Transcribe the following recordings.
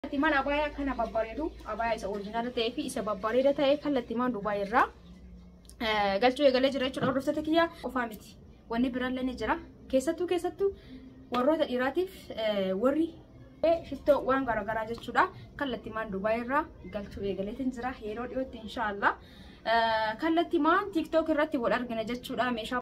Kallattimaan abaayaa akkana babbareedu abaayaa isa orijinaala ta'ee fi isa babbareeda ta'e kallattimaan Dubaay irraa eh, galchuu eegalee jira jechuudha. Hordoftoota kiyyaa qofaa miti. Wanni biraallee ni jira. Keessattuu keessattuu warroota dhiiraatiif eh, warri eh, shittoo waan garaagaraa jechuudha. Kallattimaan Dubaay irraa galchuu eegaleetiin jira. Yeroo dhiyootti inshaallah. Eh, Kallattimaan TikTok irratti wal argina jechuudha. Meeshaa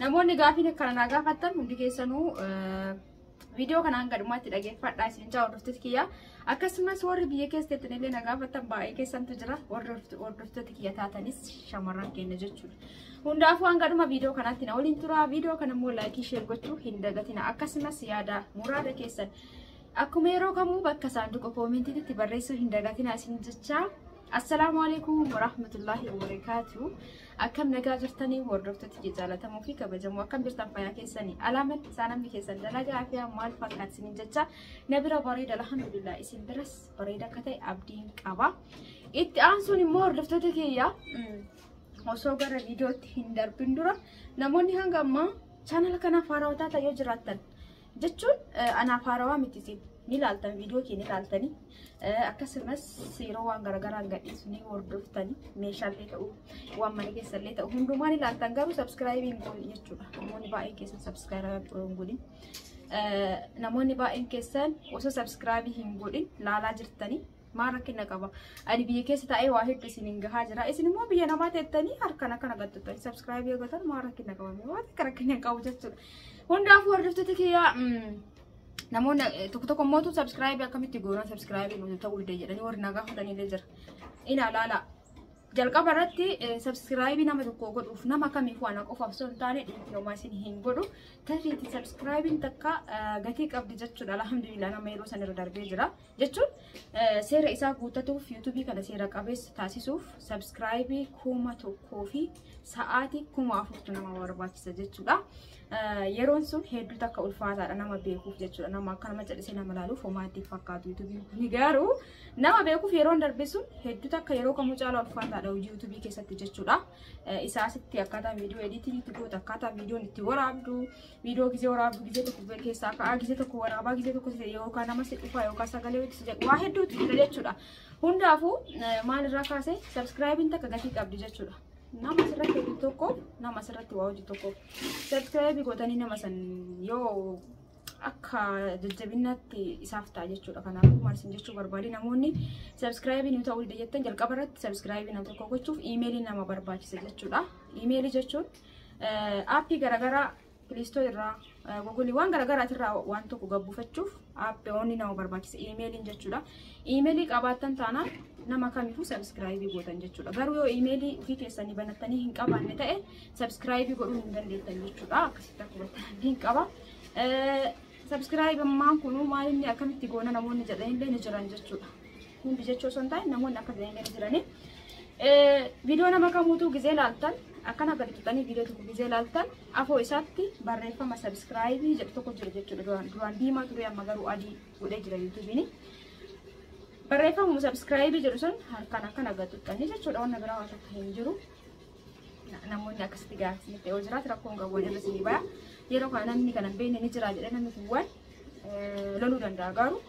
Namoonni gaafiin akkana naa gaafattan hundi keessanuu viidiyoo kanaan gadhumaatti dhageeffadhaa isin jaa hordoftoota kiyya. Akkasumas warri biyya keessatti illee na gaafattan baay'ee keessantu jira. Warri hordoftoota kiyya taatanis shamarran keenya jechuudha. Hundaafuu hanga dhuma viidiyoo kanaatti na waliin tura. Viidiyoo kana immoo laayikii sheer gochuu hin dagatina. Akkasumas yaada muraada keessan akkuma yeroo kamuu bakka saanduqa koomentiitti barreessuu hin dagatina isin jechaa. Assalaamu alaikum warahmatullahi wabarakaatu. Akkam nagaa jirtanii hordoftoota kee jaallatamoo fi kabajamoo akkam jirtan fayyaa keessanii alaaman saanamni keessan dalagaa fi maal fakkaat isiniin jecha na bira bareeda alhamdulillah isin biras bareeda akka ta'e abdiin qaba. Itti aansuun immoo hordoftoota keeyyaa osoo gara viidiyootti hin darbin dura namoonni hanga ammaa chaanala kanaaf haarawaa taatan yoo jiraattan jechuun anaaf haarawaa miti isin ni laaltan viidiyoo kee ni laaltanii akkasumas yeroo waan garaagaraan gadhiisu ni hordoftanii meeshaalee ta'u waan mana keessallee ta'u hundumaa ni laaltan garuu sabskiraayibii hin goone jechuudha namoonni baay'een keessan sabskiraayibii hin godhin namoonni baay'een keessan osoo sabskiraayibii hin godhin laalaa jirtanii Maa rakkina qaba. Ani biyya keessa taa'ee waa hedduu isin hin gahaa jira. Isin immoo biyya namaa teettanii harkaan akkana gattutan. Sabskraayibii yoo gotan maa rakkina qaba. Mee waan akka rakkina hin qabu jechuudha. Hundaafuu hordoftoota kiyyaa mm, namoonni eh, tokko tokko mootu sabskraayibii akkamitti goonaa sabskraayibii nuti ta'uu dide jedhanii warri nagaa fudhaniillee jira. Ina laala. Jalqaba irratti eh, sabskraayibii nama tokko godhuuf nama kamiif waan qofaaf osoo hin taane dhiibbaa homaa isin hin godhu. Tarreetti sabskraayibiin takka eh, gatii qabdi jechuudha. Alhamdulillah nama yeroo san irra darbee jira. jechuun seera isaa guuttatuuf yuutuubii kana seera qabeessa taasisuuf sabskraayibii kuma tokkoo fi sa'aatii kuma afurtu nama barbaachisa jechuudha. Yeroon sun hedduu takka ulfaataadha nama beekuuf jechuudha. Nama akka nama callisee nama ilaaluuf homaatti fakkaatu yuutuubiin kun garuu nama beekuuf yeroon darbe sun hedduu takka yeroo kamuu caalaa ulfaataadha hojii yuutuubii keessatti jechuudha. Isaasitti akkaataa viidiyoo ediitiin itti gootu akkaataa viidiyoon itti waraabdu Viidiyoo gizee waraabdu gizee tokko keessaa ka'aa gizee tokko waraabaa gizee tokko yookaan nama si dhufaa yookaan sagalee itti jedhu waa hedduutu jira jechuudha. Hundaafuu maal irraa kaasee sabskiraayibiin takka gatii qabdi jechuudha. Nama asirratti hojii tokko nama asirratti waa hojii tokko sabskiraayibii gootanii nama san yoo akka jajjabinnaatti isaaf ta'a jechuudha. Kanaafuu maal isin jechuu barbaade namoonni sabskiraayibii nu ta'uu dida jettan jalqaba irratti sabskiraayibii nama tokko gochuuf iimeelii nama barbaachisa jechuudha. Iimeelii jechuun Aappii garaagaraa Piliistoo irraa Google waan garaagaraati irraa waan tokko gabbuufachuuf aappii oonni nama barbaachisa iimeeliin jechuudha. Iimeelii qabaattan taana nama kamiifuu sabiskiraayibii gootan jechuudha. Garuu yoo iimeelii ofii keessanii banattanii hin qabaanne ta'e sabiskiraayibii godhuu hin dandeettan jechuudha. Akkasitti akka hubattan abdiin qaba. Sabiskiraayibammaan kun maal inni akkamitti goona namoonni jedhanillee ni jiran jechuudha. Hundi jechuu osoo hin taane namoonni akka gahee gadi jiranii. Viidiyoo nama kamuutuu gizee laaltan akkana gadi tuqxanii viidiyoo tokko gizee laaltan afoo isaatti barreeffama sabiskiraayibii jedhu tokko jira jechuudha. Duraan duraan diimaa ture amma garuu adii godhee jira yuutuubiin. Barreeffamuma sabiskiraayibii jedhu sun harkaan akkana gadi tuqxanii jechuudha wanna biraa waan takka hin jiru. namoonni akkasitti gaafsinitti yoo jiraatu rakkoon qabu irra sii baya. Yeroo kana namni kana hin beekne ni jira jedhee namni kun waan loluu danda'a garuu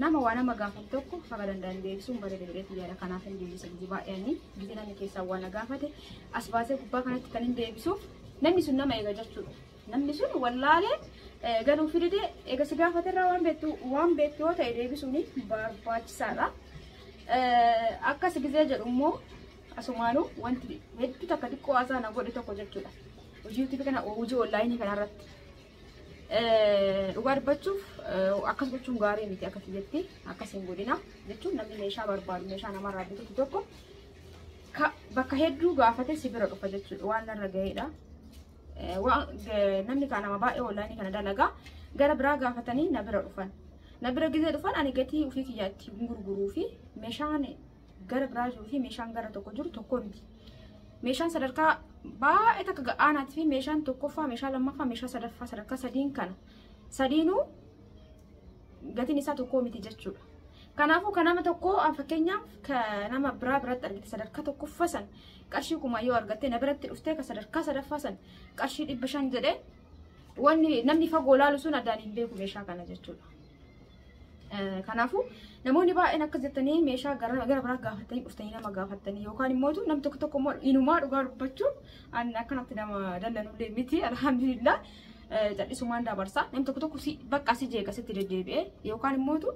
Nama waa nama gaafatu tokko haga danda'an deebisuun bareeda jedheetu yaada kanaaf hin deebisa gizii baay'eeni gizii namni keessaa waa na gaafate as baasee gubbaa kanatti kan hin deebisuuf namni sun nama eega jechuudha. Namni sun wallaalee eh, galuu fidide eega si gaafate irraa waan beektu waan beektu yoo ta'e deebisuun barbaachisaadha. Eh, Akkas gizee jedhu immoo asumaanuu wanti hedduu takka xiqqoo haasaa na godhe tokko jechuudha. Hojii YouTube kana hojii onlaayinii kanarratti. Dhugaa dubbachuuf akkas gochuun gaarii miti akka kiyyatti akkas hin godhina jechuun namni meeshaa barbaadu meeshaa namarraa bitutu tokko bakka hedduu gaafate si bira dhufa jechuudha waan narra ga'eedha. Namni kaan nama baay'ee oonlaayinii kana dalagaa gara biraa gaafatanii na bira dhufan. Na bira gizee dhufan ani gatii ofii kiyyaatti gurguruu fi meeshaan gara biraa jiruu fi meeshaan gara tokko jiru tokko miti. Meeshaan sadarkaa baay'ee takka ga'aanaatii fi meeshaan tokkoffaa, meeshaa lammaffaa, meeshaa sadaffaa sadarkaa sadiin kana sadiinuu gatiin isaa tokko miti jechuudha. Kanaafuu kan nama tokkoo an fakkeenyaaf kan nama biraa biratti argite sadarkaa tokkoffaa san qarshii kuma yoo argatte na biratti dhuftee kan sadarkaa sadaffaa san qarshii dhibba shan jedhee wanni namni fagoo laalu sun addaan hin beeku meeshaa kana jechuudha. Kanaafuu namoonni baay'een akkas jettanii meeshaa gara gara biraa gaafattanii dhuftanii nama gaafattanii yookaan immoo nam tokko tokko immoo inumaa dhugaa dubbachuun an akkanatti nama dallanullee miti alhamdulillah callisumaan dabarsa nam tokko tokko si bakka si jeeqa sitti deddeebi'ee yookaan immoo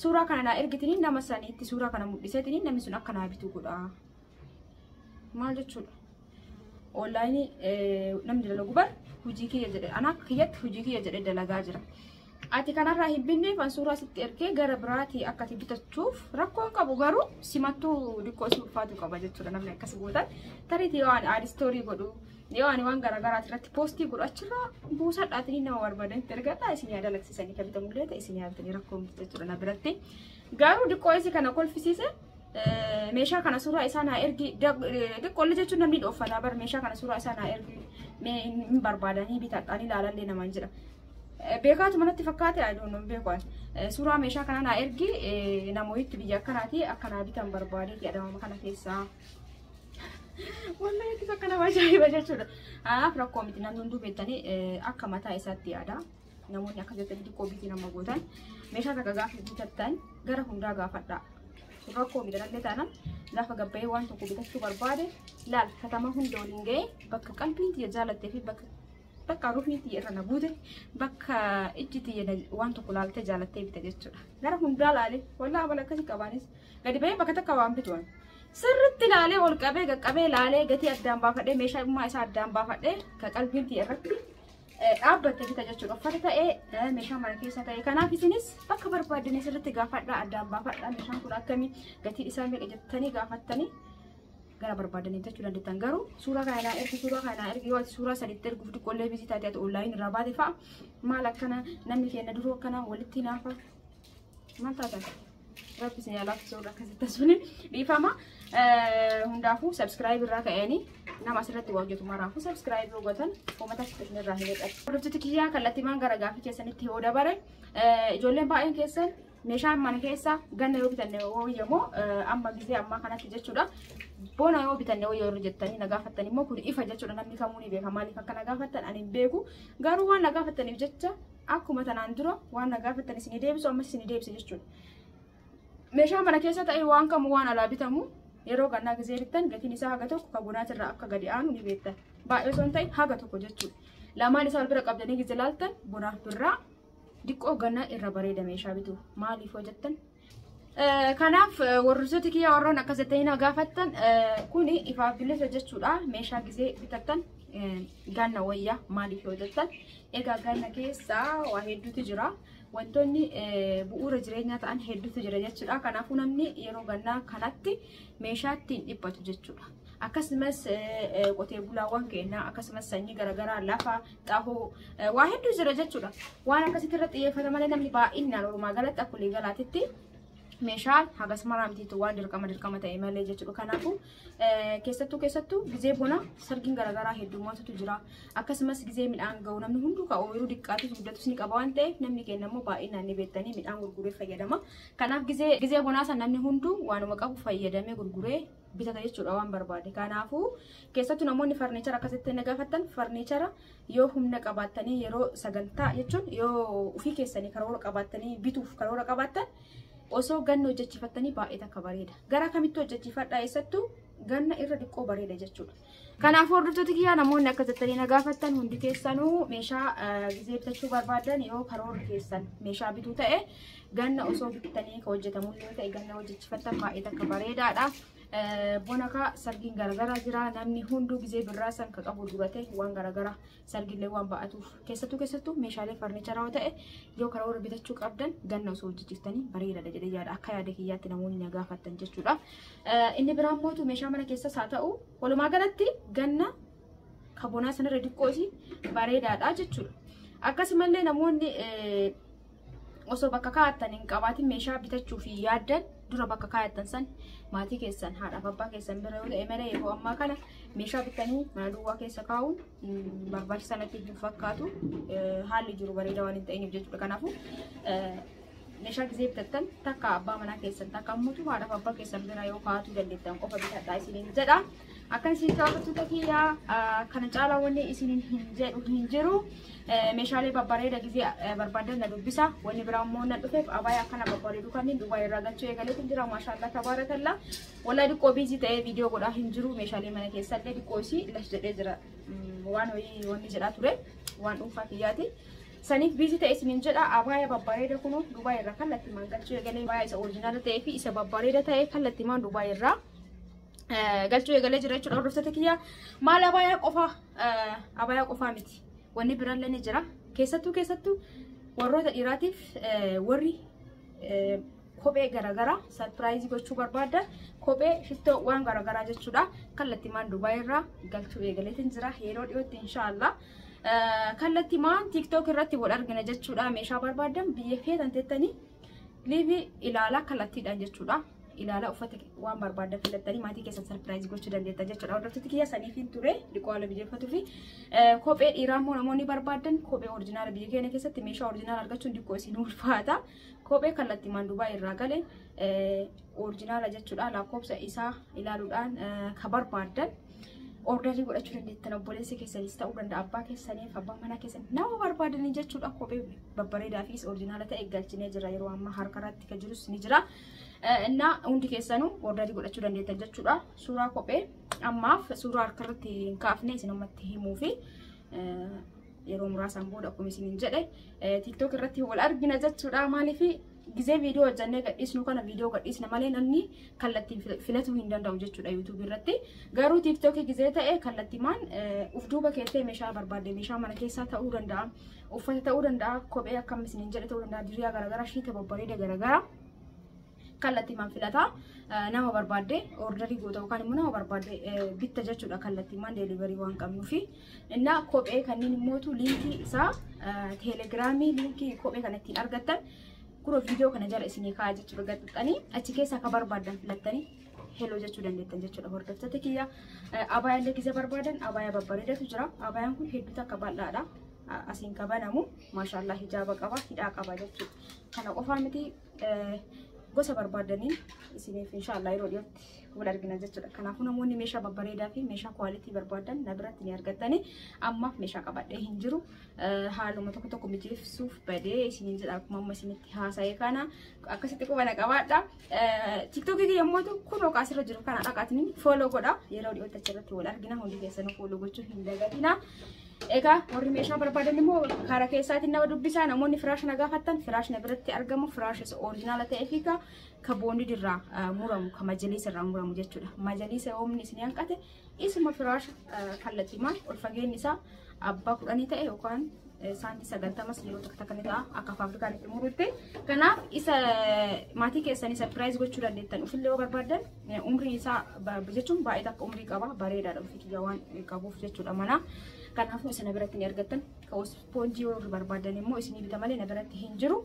suuraa kana naa ergitanii nama saniitti suuraa kana mul'iseetanii namni sun akka naa bitu godhaa. maal jechuudha onlaayinii namni dalagu bar hojii kiyya jedhe anaa kiyyatti hojii kiyya jedhe dalagaa jira ati kanarraa hin binneef an suuraa sitti ergee gara biraatii akka ati bitachuuf rakkoon qabu garuu simattuu diqqoo si ulfaatu qaba jechuudha namni akkas gootan tariiti yoo ani aad istoorii godhu yoo ani waan garaagaraati irratti poostii godhu achirraa buusadhaatiin nama barbaadanitti ergadhaa isin yaa dalagsisanii kan bitamullee ta'e isin yaa bitanii rakkoon jechuudha na biratti garuu diqqoo isi kana kolfisiise meeshaa kana suuraa isaa naa ergi xiqqoolle jechuun namni dhooffataa bar meeshaa kana suuraa isaa naa ergi mee hin barbaadanii bitadhaan ilaalallee namaan jedha. Beekaatu manatti fakkaate adoonoo beekuan suuraa meeshaa kana naa ergi namoonni biyya akkanaati akkanaa bitan barbaadee jedhama kana keessaa. Wallahi itti akka nama ajaa'iba jechuudha. Anaaf rakkoo miti namni hunduu beektanii akka mataa isaatti yaada. namoonni akka jettanii xiqqoo biitii nama gootan meeshaa takka gaafa bitattan gara hundaa gaafadhaa. Kun rakkoo miidhagallee taanaan gaafa gabbayee waan tokko bitachuu barbaade laal katama hunda waliin ga'ee bakka qalbiin tiyya jaalattee fi bakka bakka ruufni tiyya irra na buute bakka ijji tiyya na- waan tokko laaltee jaalattee bita jechuudha. Gara hundaa laalee wallaa abala akkasii qabaanis gadi ba'ee bakka takka waan bituan. Sirritti laalee ol qabee qaqqabee laalee gatii addaan baafadhee meeshaa dhimmaa isaa addaan baafadhee ka qalbiin tiyya irratti dhaabbattee bita jechuudha. Uffata ta'ee meeshaa mana keessa ta'ee kanaaf isinis bakka barbaaddan sirriitti gaafadhaa addaan baafadhaa meeshaan kun akkamii gatii isaa meeqa jettanii gaafattanii gara barbaadanii bitachuu dandeettan garuu suuraa kana naa ergi suuraa kana naa ergi yoo ati suuraa sadiitti erguuf xiqqoollee biizii taate ati onlaayin irraa baate fa'a maal akkana namni keenya duruu akkana walitti naafa maal taatan rabbi isin alaafisuu irra akkasitti tasuun dhiifama hundaafuu sabskiraayib irraa ka'anii nama asirratti waa hojjetu maraafuu sabskiraayib yoo gootan uummata isin irraa hin eeggatu. Hordoftoota kiyyaa kallattiimaan gara gaafii keessanitti yoo dabare ijoolleen baay'een keessan meeshaan mana keessa ganna yoo bitanne wayyamoo amma gisee ammaa kanatti jechuudha. Bona yoo bitanne wayyoo irra jettanii nagaafattan immoo kun ifa jechuudha namni kamuu ni beeka maaliif akka nagaafattan ani hin beeku garuu waan nagaafattaniif jecha Akkuma tanaan dura waan na gaafattan isinii deebisu ammas isinii deebisa jechuudha. Meeshaa mana keessa ta'e waan kamuu waan alaa bitamu yeroo gannaa gizee bittan gatiin isaa haga tokko kan bonaatirraa akka gadi aanu ni beektan. Baay'ee osoo hin ta'in haga tokko jechuudha. Lamaan isaa wal bira qabdanii gizee laaltan bonaaf birraa diqqoo gannaa irra bareeda meeshaa bitu. Maaliif hojjettan? Kanaaf warroota kiyya warroon akkas jettanii na gaafattan kun ifaaf bilisa jechuudha. Meeshaa gisee bitattan ganna wayya maaliif yoo jettan egaa ganna keessa waa hedduutu jira. Wantoonni bu'uura jireenyaa ta'an hedduutu jira jechuudha. Kanaafuu namni yeroo gannaa kanatti meeshaa ittiin dhiphatu jechuudha. Akkasumas qotee bulaawwan keenya akkasumas sanyii garaagaraa lafa xahoo waa hedduu jira jechuudha. Waan akkasitti irratti xiyyeeffata malee namni baay'inaan walumaa galatti akka walii galaatitti meeshaa hagas maraa mitiitu waan dirqama dirqama ta'e malee jechuudha. Kanaafuu keessattuu keessattuu gizee bona sargiin garaagaraa heddummatutu jira. Akkasumas gizee midhaan ga'u namni hunduu ka ooyiruu diqqaatis guddatus ni qaba waan ta'eef namni keenya immoo baay'inaan ni beektanii midhaan gurguree fayyadama. Kanaaf gizee bonaa sana namni hunduu waanuma qabu fayyadamee gurguree bitata jechuudha waan barbaade. Kanaafuu keessattuu namoonni farniichara akkasitti inni gaafattan farniichara yoo humna qabaattanii yeroo sagantaa jechuun yoo ofii keessanii karoora qabaattanii bituuf karoora qabaattan osoo ganna hojjechiifattanii baay'ee takka bareeda. Gara kamitti hojjechiifadhaa eessattuu ganna irra diqqoo bareeda jechuudha. Kanaafuu hordoftoota kiyyaa namoonni akka jettanii na gaafattan hundi keessanuu meeshaa gizee bitachuu barbaadan yoo karoorri keessan meeshaa bituu ta'e ganna osoo bittanii ka hojjetamu yoo ta'e ganna hojjechifattan baay'ee takka bareedaadha. Bona kaa sargiin garagaraa jira namni hunduu gizee birraa san ka qabu duratee waan garagaraa sargillee waan ba'atuuf keessattuu keessattuu meeshaalee farnicharaa yoo ta'e yoo karoora bitachuu qabdan ganna osoo hojjechiistanii bareedaadha jedhee yaada akka yaada kiyyaatti namoonni na gaafattan jechuudha. Inni biraa mootu meeshaa mana keessas haa ta'u walumaa galatti ganna kabonaa sanarra diqqoo isii bareedaadha jechuudha. Akkasumallee namoonni osoo bakka kaa'attan hin qabaatin meeshaa bitachuuf hin yaaddan dura bakka kaa'attan san maatii keessan haadhaaf abbaa keessan bira yoo ta'e malee yeroo ammaa kana meeshaa bitanii mana duwwaa keessa kaa'uun mm, barbaachisaa natti hin fakkaatu Eh, haalli jiru bareedaa waan hin ta'iniif jechuudha kanaafuu eh, meeshaa gisee bitattan takka abbaa manaa keessan takka ammoo haadhaaf abbaa keessan bira yoo kaa'atuu dandeettan qofa bitadhaa isiniin jedha. Akkan isin gaafattoota kiyyaa kana caalaa wanni isin hin jedhu hin jiru. Meeshaalee babbareeda gizee barbaadan na dubbisa. Wanni biraa immoo na dhufeef abaya akkana babbareedu kanneen duwwaa irraa galchuu eegaleetiin jira. Maashaallah tabaarakalla. Walaa diqqoo biizii ta'ee viidiyoo godhaa hin jiru. Meeshaalee mana keessaa illee diqqoo isii las jedhee jira. Waan horii wanni jedhaa ture waan dhuunfaa kiyyaati. Saniif biizii ta'e isin hin jedha. Abaya babbareeda kunuu duwwaa irraa kallattimaan galchuu eegalee abaya isa orijinaala ta'ee fi isa babbareeda ta'e kallattimaan duwwaa irraa. galchuu eegalee jira jechuudha hordoftoota kiyyaa maal abaayaa qofaa abaayaa qofaa miti wanni biraallee ni jira keessattuu keessattuu warroota dhiiraatiif warri kophee garaagaraa sarpiraayizii gochuu barbaadda kophee shittoo waan garaagaraa jechuudha kallattimaan dubaayii irraa galchuu eegaleetiin jira yeroo dhiyootti inshaallah kallattimaan tiiktook irratti wal argina jechuudha meeshaa barbaadan biyya keessan teettanii liivii ilaalaa kallattiidhaan jechuudha ilaalaa uffata waan barbaaddan filattanii maatii keessan sarpiraayiz gochuu dandeetta jechuudha. Hordoftoota kiyya saniifiin ture dhiqoo haala mijeeffatuu fi kophee dhiiraa immoo namoonni barbaadan kophee orjinaala biyya keenya keessatti meeshaa orjinaala argachuun diqqoo isin ulfaata. Kophee kallattii maandubaa irraa gale orjinaala jechuudha lakkoofsa isaa ilaaluudhaan ka barbaadan ordarii godhachuu dandeettan obboleessa keessanis ta'uu danda'a abbaa keessaniif abbaa manaa keessan nama barbaadanii jechuudha kophee babbareedaa fi orjinaala ta'e galchinee jira yeroo ammaa harkarratti kan jirus ni jira. Innaa hundi keessanuu ordarii godhachuu dandeettan jechuudha. Suuraa kophee ammaaf suuraa harkarratti hin kaafne isin ammatti himuu fi yeroo muraasaan booda akkuma isin hin jedhe tiktok irratti wal argina jechuudha. Maaliif gizee viidiyoo hojjannee gadhiisnu kana viidiyoo gadhiisna malee namni kallattiin filatuu hin danda'u jechuudha yuutuubii irratti. Garuu tiktokii gizee ta'e kallattimaan uf duuba keessee meeshaa barbaadde meeshaa mana keessaa ta'uu danda'a. uffata ta'uu danda'a kophee akkam isiniin jedhe ta'uu danda'a diriyaa garaagaraa shiita babbareeda garaagaraa kallattiimaan filataa nama barbaadde ordarii goota yookaan immoo nama barbaadde bitta jechuudha kallattiimaan deeliverii waan qabnuufi innaa kophee kanneen immootu liinkii isaa teelegiraamii liinkii kophee kana ittiin argattan kuro viidiyoo kana jala isinii kaa'aa jechuudha gaxxixanii achi keessaa akka barbaaddan filattanii heloo jechuu dandeettan jechuudha hordoftoota kiyya. Abaayaa illee gizee barbaadan abaayaa babbareedatu jira. Abaayaan kun hedduu takka bal'aadha. Asiin ka banamu maashaallah hijaaba qaba hidhaa qaba jechuudha. Kana qofaa miti gosa barbaadaniin isiniif inshaallah yeroo dhiyootti wal argina jechuudha. Kanaafuu namoonni meeshaa babbareedaa fi meeshaa kwaalitii barbaadan na biratti ni argattani. Amma meeshaa qabadhee hin jiru. Haaluma tokko tokko mijeessuuf badee isiniin jedha akkuma amma isinitti haasa'e kana akkasitti qubana qabaadha. Tiktokii kiyya mootu kun oqaa asirra jiru kana dhaqaatni fooloo godha yeroo dhiyootti achirratti wal argina hundi keessanuu fooloo gochuu hin dagatina. Egaa warri meeshaa barbaadan immoo karaa keessaatiin nama dubbisaa namoonni firaash na gaafattan firaash na biratti argamu firaash isa orijinaala ta'ee fi ka boondii irraa muramu ka majaliisa irraa muramu jechuudha. Majaliisa oomni isin hanqate Isuma firaasha kallatiimaan ol fageenyi isaa abbaa kudhanii ta'e yookaan saantii sagaltamas yeroo tokko takka ni ta'a akka faabirikaan itti muruutti. Kanaaf isa maatii keessanii sapiraayiz gochuu dandeettan ofillee yoo barbaaddan umrii isaa jechuun baay'ee takka umrii qaba bareedaadha ofii kiyya waan qabuuf jechuudha manaa. Kanaafuu isa na biratti ni argattan. Ispoonjii yoo barbaaddan immoo isinii bita malee na biratti hin jiru.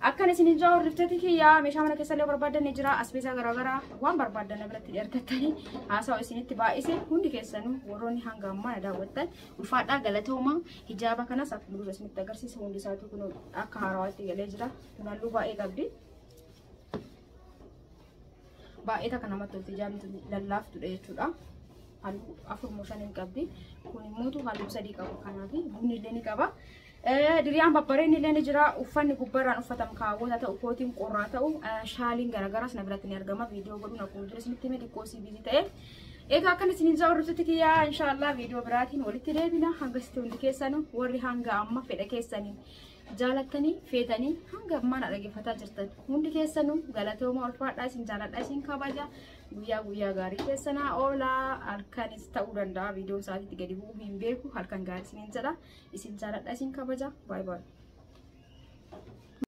Akkan isin hin jaawar riftati kiyyaa meeshaa mana keessallee barbaaddan ni jira asbeesaa garaagaraa waan barbaaddan na biratti ergattanii haasawa isinitti baay'ise hundi keessanuu warroonni hanga ammaa na daawwattan ulfaadhaa galatooma hijaaba kanas akka dura isinitti agarsiisa hundi isaatuu kun akka haarawaatti galee jira kun halluu baay'ee qabdi. Baay'ee takka namatti tolti hijaabni tun lallaaftudha jechuudha. Halluu afur moo shan hin qabdi kun immoo halluu sadii qaba kanaaf bunni illee ni qaba. Diriyaan babbareen illee ni jira. Uffanni gubbarraan uffatamu kaawwata ta'u, kootiin qorraa ta'u, shaaliin garaagaraas na biratti ni argama. Viidiyoo godhuun akkuma ture isinitti hime xiqqoo sii biizii ta'e. Egaa akkan isiniin isaa hordoftutti kiyyaa inshaallah viidiyoo biraatiin walitti deebina. Hanga sitti hundi keessanu warri hanga amma fedha keessanii jaalattanii feetanii hanga ammaan dhaggeeffataa jirtan hundi keessanu galatooma ulfaadhaa isin jaaladhaa isin kabaja Guyyaa guyyaa gaarii keessa naa oolaa halkanis ta'uu danda'a viidiyoon isaatiitti gadi bu'uu hin beeku halkan gaarii isiniin jedha isin jaaladha isin kabaja baay'ee baay'ee.